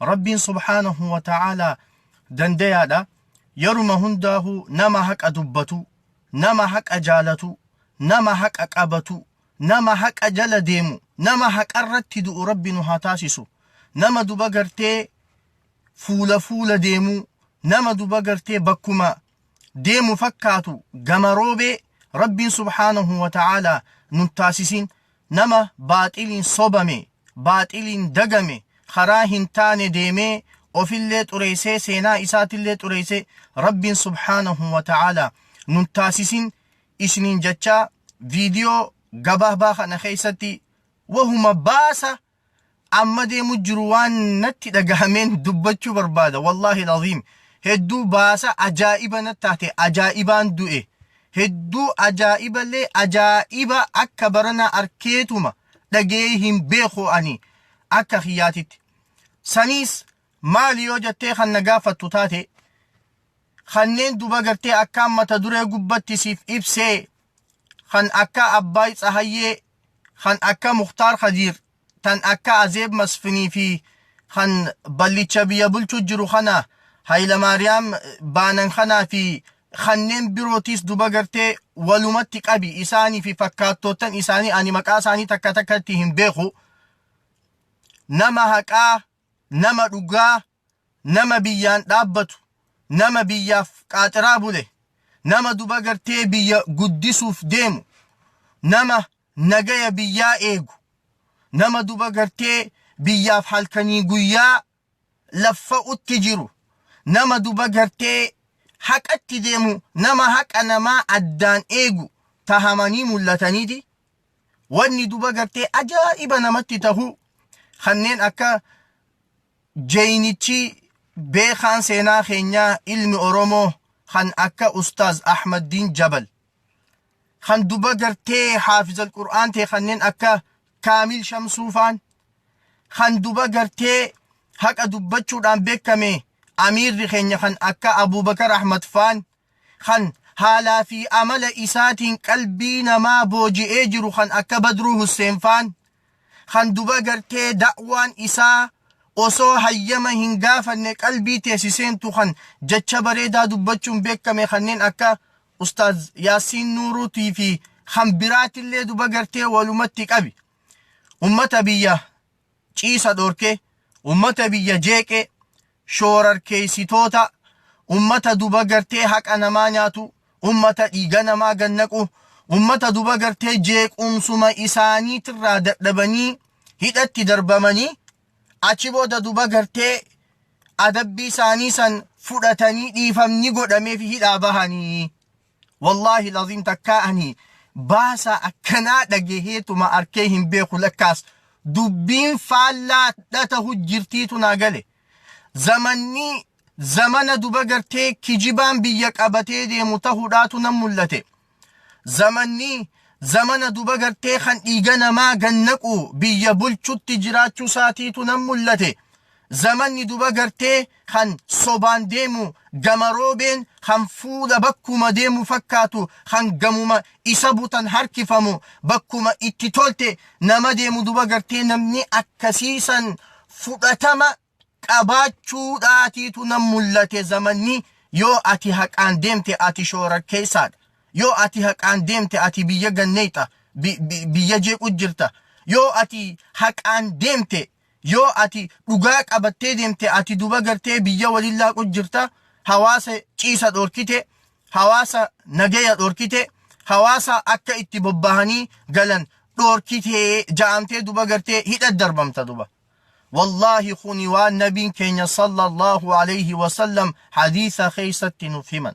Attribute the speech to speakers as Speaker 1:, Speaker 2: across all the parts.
Speaker 1: Rabbiin subhaanahu wa ta'aalaa dandayaadha. Yeruma hundaahuu nama haqa dubbatu, nama haqa jaalatu, nama haqa qabatu, nama haqa jala deemu, nama haqarratti du'u Rabbi nu haa taasisu. Nama duba gartee fuula fuula deemuu, nama duba gartee bakkuma deemu fakkaatu gama roobee Rabbiin subhaanahu wa ta'aala nun taasisiin nama baaxiliin sobame baaxiliin dagame karaa hin taane deemee ofillee xureessee seenaa isaatillee xureessee Rabbiin subhaanahu wa ta'aala nun taasisiin isiniin jechaa viidiyoo gabaabaa kana keessatti wahuma baasa amma deemu jiru waan natti dhagahameen dubbachuu barbaada wallaahi laziim hedduu baasa ajaa'iba natti taate ajaa'ibaan du'e hedduu ajaa'iballee ajaa'iba akka baranaa arkeetuma dhagee hin beeku ani akka kiyyaatitti saniis maali yoo jettee kan na gaafattu taate kanneen duba gartee akkaan mata duree gubbatti siif ibsee kan akka abbaay tsahayyee kan akka Muktaar Kadiir, tan akka Azeeb Masfinii fi kan ballicha biyya bulchuu jiru kana Hayilamaariyaam baanan kanaa fi kanneen birootiis duba gartee walumatti qabi isaanii fi fakkaattoottan isaanii ani maqaa isaanii takka takkatti hin beeku. Nama haqaa, nama dhugaa, nama biyyaan dhaabbatu, nama biyyaaf qaaxiraa bule, nama duba gartee biyya guddisuuf deemu, nama nagaya biyyaa eegu, nama duba gartee biyyaaf halkanii guyyaa laffa'utti jiru, nama duba gartee haqatti deemu, nama haqa namaa addaan eegu tahamanii mul'ataniiti. Wanni duba gartee ajaa'iba namatti tahu kanneen akka Jeynichii beekaan seenaa keenyaa ilmi Oromoo kan akka Ustaaz Ahmaddiin Jabal, kan duba gartee Haafizal Qur'aan ta'e kanneen akka Kaamil Shamsuu faan, kan duba gartee haqa dubbachuudhaan beekame Amiirri keenya kan akka Abuubakar Ahmad faan kan haalaa fi amala isaatiin qalbii namaa booji'ee jiru kan akka Badruu Husseen faan kan duba gartee da'waan isaa osoo hayyama hin gaafanne qalbii teesi seentu kan jecha bareedaa dubbachuun beekame kanneen akka Ustaaz Yaasiin Nuuruutii fi kan biraatillee duba gartee walumatti qabi. Ummata biyya ciisa dhorke, ummata biyya jeeqe, shoorarkeessitoota, ummata duba gartee haqa namaa nyaatu, ummata dhiiga namaa gad naqu, ummata duba gartee jeequmsuma isaaniitirraa dadhabanii hidhatti darbamanii achi booda duba gartee adabbii isaanii san fudhatanii dhiifamni godhameef hidhaa bahanii Wallaahi laziim takkaa ani baasaa akkanaa dhageheetuma arkee hin beeku lakkaas dubbiin faallaa dha tahu jirtiitu naa gale. Zamanni zamana duba gartee kijibaan biyya qabatee deemu tahudhaatu nan mul'ate. Zamanni zamana duba gartee kan dhiiga namaa gannaqu biyya bulchutti jiraachuu saatiitu nan mul'ate. Zamanni duba gartee kan sobaan deemu gama roobeen kan fuula bakkuma deemu fakkaatu kan gamuma isa butan harkifamu bakkuma itti tolte nama deemu duba gartee namni akkasii san fudhatama qabaachuu dhaatiitu nan mul'ate zamanni yoo ati haqaan deemte ati shoorakkeessaadha yoo ati haqaan deemte ati biyya ganneeyxa biyya jeequ jirta yoo ati haqaan deemte Yoo ati dhugaa qabattee deemte ati duba gartee biyya waliin laaqu jirta, hawaasa ciisa dhorkite, hawaasa nagaya dhorkite, hawaasa akka itti bobbahanii galan dhorkite ja'amtee duba gartee hidha darbamta duba. Wallaahi kuni waan nabiin keenya sallallahu alayhi wasallam hadiisa keessatti nuuf himan.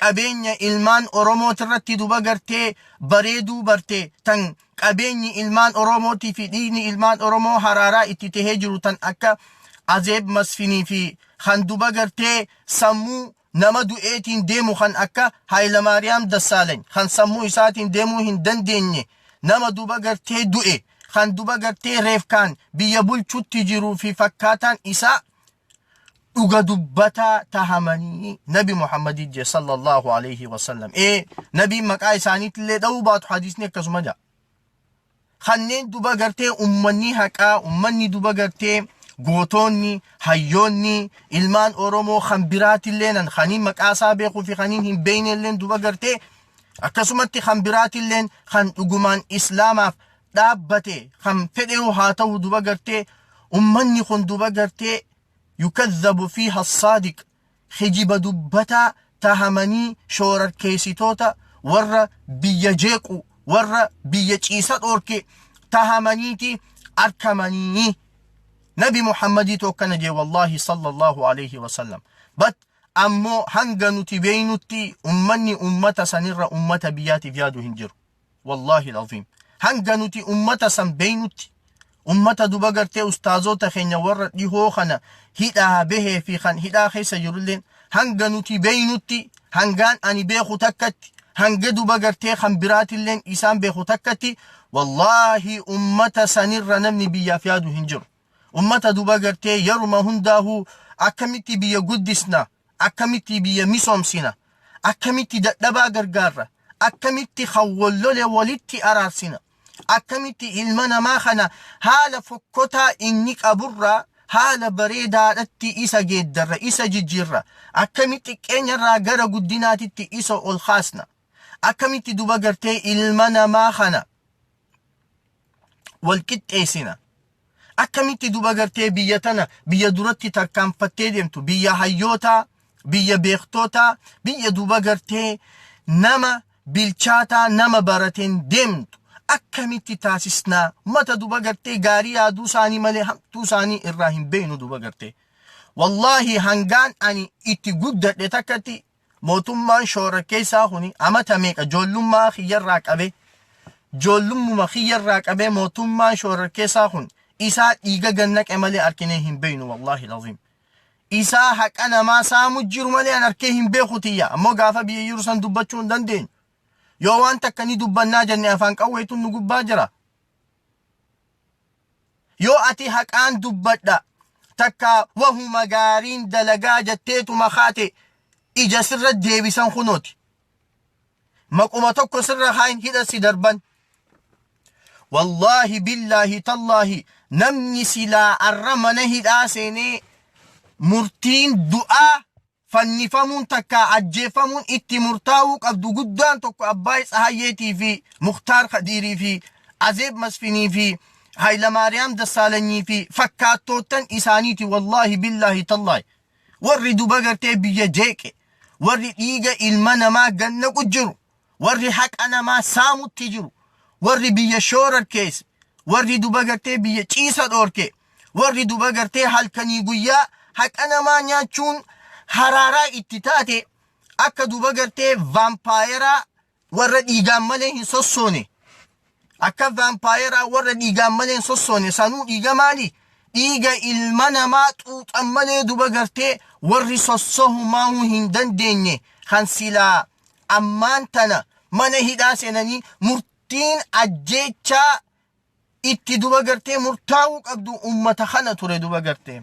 Speaker 1: qabeenya ilmaan Oromootirratti duba gartee bareeduu barte tan qabeenyi ilmaan Oromootii fi dhiigni ilmaan Oromoo haraaraa itti tahee jiru tan akka Azeeb Masfinii fi kan duba gartee sammuu nama du'eetiin deemu kan akka Haayilamaariyaam Dassaalany kan sammuu isaatiin deemuu hin dandeenye nama duba gartee du'e kan duba gartee reefkaan biyya bulchutti jiruu fi fakkaataan isaa dhuga dubbataa tahamanii nabi muhammadii jee sallallahu alayhi wasallam ee nabiin maqaa isaaniitillee dha'uu baatu hadiisni akkasuma jaa kanneen duba gartee ummanni haqaa ummanni duba gartee gootoonni hayyoonni ilmaan oromoo kan biraatillee nan kaniin maqaa isaa beekuu fi kaniin hin beeknelleen duba gartee akkasumatti kan biraatilleen kan dhugumaan islaamaaf dhaabbate kan fedheyuu haa ta'u duba gartee ummanni kun duba gartee yukazzabu fiiha saadiq hijiba dubbataa tahamanii shoorarkeessitoota warra biyya jeequ warra biyya ciisa dhoorke tahamaniiti arkamanii nabi muhammadii tokkana jee wallaahi sallallahu alayhi wasallam bat ammoo hanga nuti beeynutti ummanni ummata sanirra ummata biyyaatiif yaadu hin jiru wallaahi alazim hanga nuti ummata san beeynutti ummata duba gartee ustaazoota keenya warra dhihoo kana hidhaa behee fi kan hidhaa keessa jirulleen hanga nuti beeynutti hangaan ani beeku takkatti hanga duba gartee kan biraatilleen isaan beeku takkatti wallaahi ummata sanirra namni biyyaaf yaadu hin jiru ummata duba gartee yeruma hundaahuu akkamitti biyya guddisna akkamitti biyya misoomsina, akkamitti dadhabaa gargaarra, akkamitti kan wal lole walitti araarsina, akkamitti ilma namaa kana haala fokkotaa inni qaburraa haala bareedaadhatti isa geeddarra, isa jijjiirra, akkamitti xiqqeenyarraa gara guddinaatitti isa ol kaasna, akkamitti duba gartee ilma namaa kana wal qixxeessina. Akkamitti duba gartee biyya tana biyya duratti tarkaanfattee deemtu biyya hayyootaa, biyya beektootaa, biyya duba gartee nama bilchaataa nama barateen deemtu akkamitti taasisnaa mata duba gartee gaarii yaaduu isaanii malee hamtuu isaanii irraa hin beeknu duba gartee. Wallaahi hangaan ani itti guddadhe takkatti Mootummaan shororkeessaa kuni amata meeqa joollummaa kiyyarraa qabee joollummuma kiyyarraa qabee mootummaan shororkeessaa kun isaa dhiiga gannaqe malee arkinee hin beeynu wallaahi laziim. Isaa haqa namaa saamu jiru malee an arkee hin beeku tiyya ammoo gaafa biyya jiru san dubbachuu hin dandeenyu. Yoo waan takka ni dubbannaa jenne afaan qawweetu nu gubbaa jira. Yoo ati haqaan dubbadha takka wahuma gaariin dalagaa jatteetuma kaate ija sirra deebisan kunooti. Maquma tokko sirra kaayin hidha si darban. Wallaahi billaahi tallaahi namni silaa arra mana hidhaa seenee murtiin du'aa fannifamuun takkaa ajjeeffamuun itti murtaa'uu qabdu guddaan tokko Abbaay Tsahayyeetii fi Muktaar Kadiirii fi Azeeb Masfinii fi Haylamaariyaam Dassaalanyii fi fakkaattoottan isaaniiti wallaahi billaahi tallaahi warri duba gartee biyya jeeqe warri dhiiga ilma namaa gad naqu jiru warri haqa namaa saamutti jiru, warri biyya shoorarkeesse, warri duba gartee biyya ciisa dhoorke, warri duba gartee halkanii guyyaa haqa namaa nyaachuun haraaraa itti taate akka duba gartee vaampaayeraa warra dhiigaan malee hin sossoone. Akka vaampaayeraa warra dhiigaan malee hin sossoone sanuu dhiiga maali? Dhiiga ilma namaa xuuxan malee duba gartee warri sossohumaahuu hin dandeenye kan silaa ammaan tana mana hidhaa seenanii murtiin ajjeechaa itti duba gartee murtaa'uu qabdu ummata kana ture duba gartee.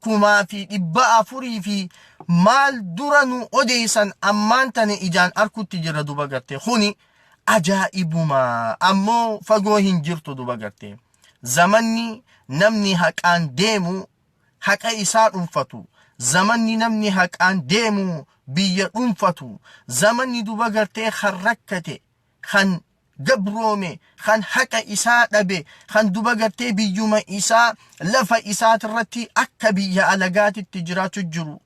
Speaker 1: kumaa fi dhibba afurii fi maal dura nu odeessan ammaan tana ijaan arkutti jirra duba garte kuni ajaa'ibuma ammoo fagoo hin jirtu duba garte zamanni namni haqaan deemu haqa isaa dhunfatu zamanni namni haqaan deemu biyya dhunfatu zamanni duba gartee kan rakkate kan gabroome, kan haqa isaa dhabe, kan duba gartee biyyuma isaa lafa isaatirratti akka biyya alagaatitti jiraachu jiru.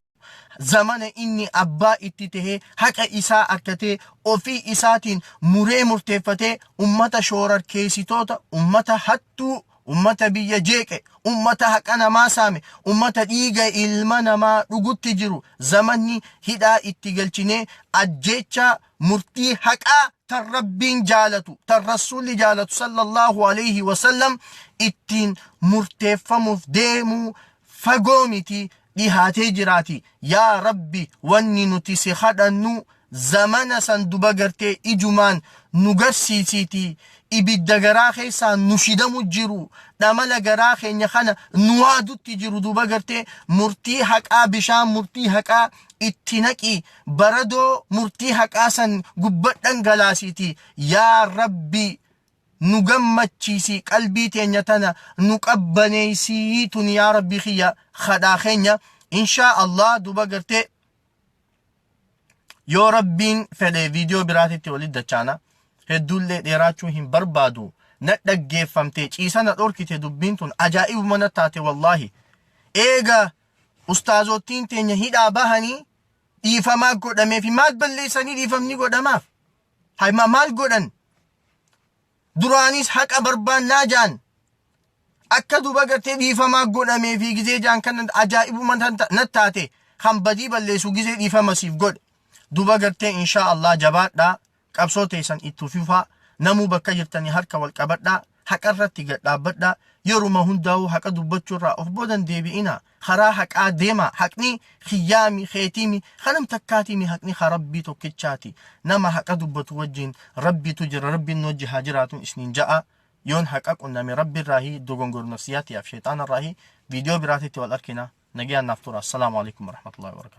Speaker 1: Zamana inni abbaa itti tahee haqa isaa arkatee ofii isaatiin muree murteeffatee ummata shoorarkeesitoota, ummata hattuu, ummata biyya jeeqe, ummata haqa namaa saame, ummata dhiiga ilma namaa dhugutti jiru zamanni hidhaa itti galchinee ajjeechaa murtii haqaa tan Rabbiin jaalatu, tan Rasuulli jaalatu sallallahu alayhi wa sallam ittiin murteeffamuuf deemuu fagoo miti dhihaatee jiraati. Yaa Rabbi wanni nuti si kadhannu zamana san duba gartee ijumaan nu garsiisiiti ibidda garaa keessaa nu shidamu jiru dhamala garaa keenya kana nu waadutti jiru duba gartee murtii haqaa bishaan murtii haqaa itti naqii baradoo murtii haqaa san gubba dhangalaasiiti yaa rabbii nu gammachiisii qalbii teenya tana nu qabbaneeysii tun yaa rabbii kiyya kadhaa keenya inshaa allah duba gartee yoo rabbiin fedhe viidiyoo biraatitti walitti dachaana hedduullee dheeraachuu hin barbaadu na dhaggeeffamte ciisa na dhorkite dubbiin tun ajaa'ibuma na taate wallaahi eega ustaazoottiin teenya hidhaa bahanii dhiifamaa godhameefi maal balleessanii dhiifamni godhamaaf hima maal godhan duraanis haqa barbaannaa jaan akka duba gartee dhiifamaa godhameefi gizee jaan kan ajaa'ibuma nat taate kan badii balleessu gizee dhiifama siif godhe duba gartee inshaa Allah jabaadhaa Qabsoo teessan itti fufaa, namuu bakka jirtanii harka wal qabadhaa, haqarratti gad dhaabbadhaa, yeruma hundaa'uu haqa dubbachuurraa of booda hin deebi'inaa, karaa haqaa deemaa, haqni kiyyaami, keetiimi, ka nam takkaatiimi, haqni ka Rabbii tokkichaati. Nama haqa dubbatu wajjin Rabbiitu jira, Rabbiin nu wajji haa jiraatu isniin ja'a. Yoon haqa qunname Rabbirraahi, dogongore nafsiyyaa tiyaaf sheyxaanarraahi. Viidiyoo biraatitti wal arkina. Nagayaan naaf turaa. Assalaamu aleykum warahmatullaahi wabarakaatuh.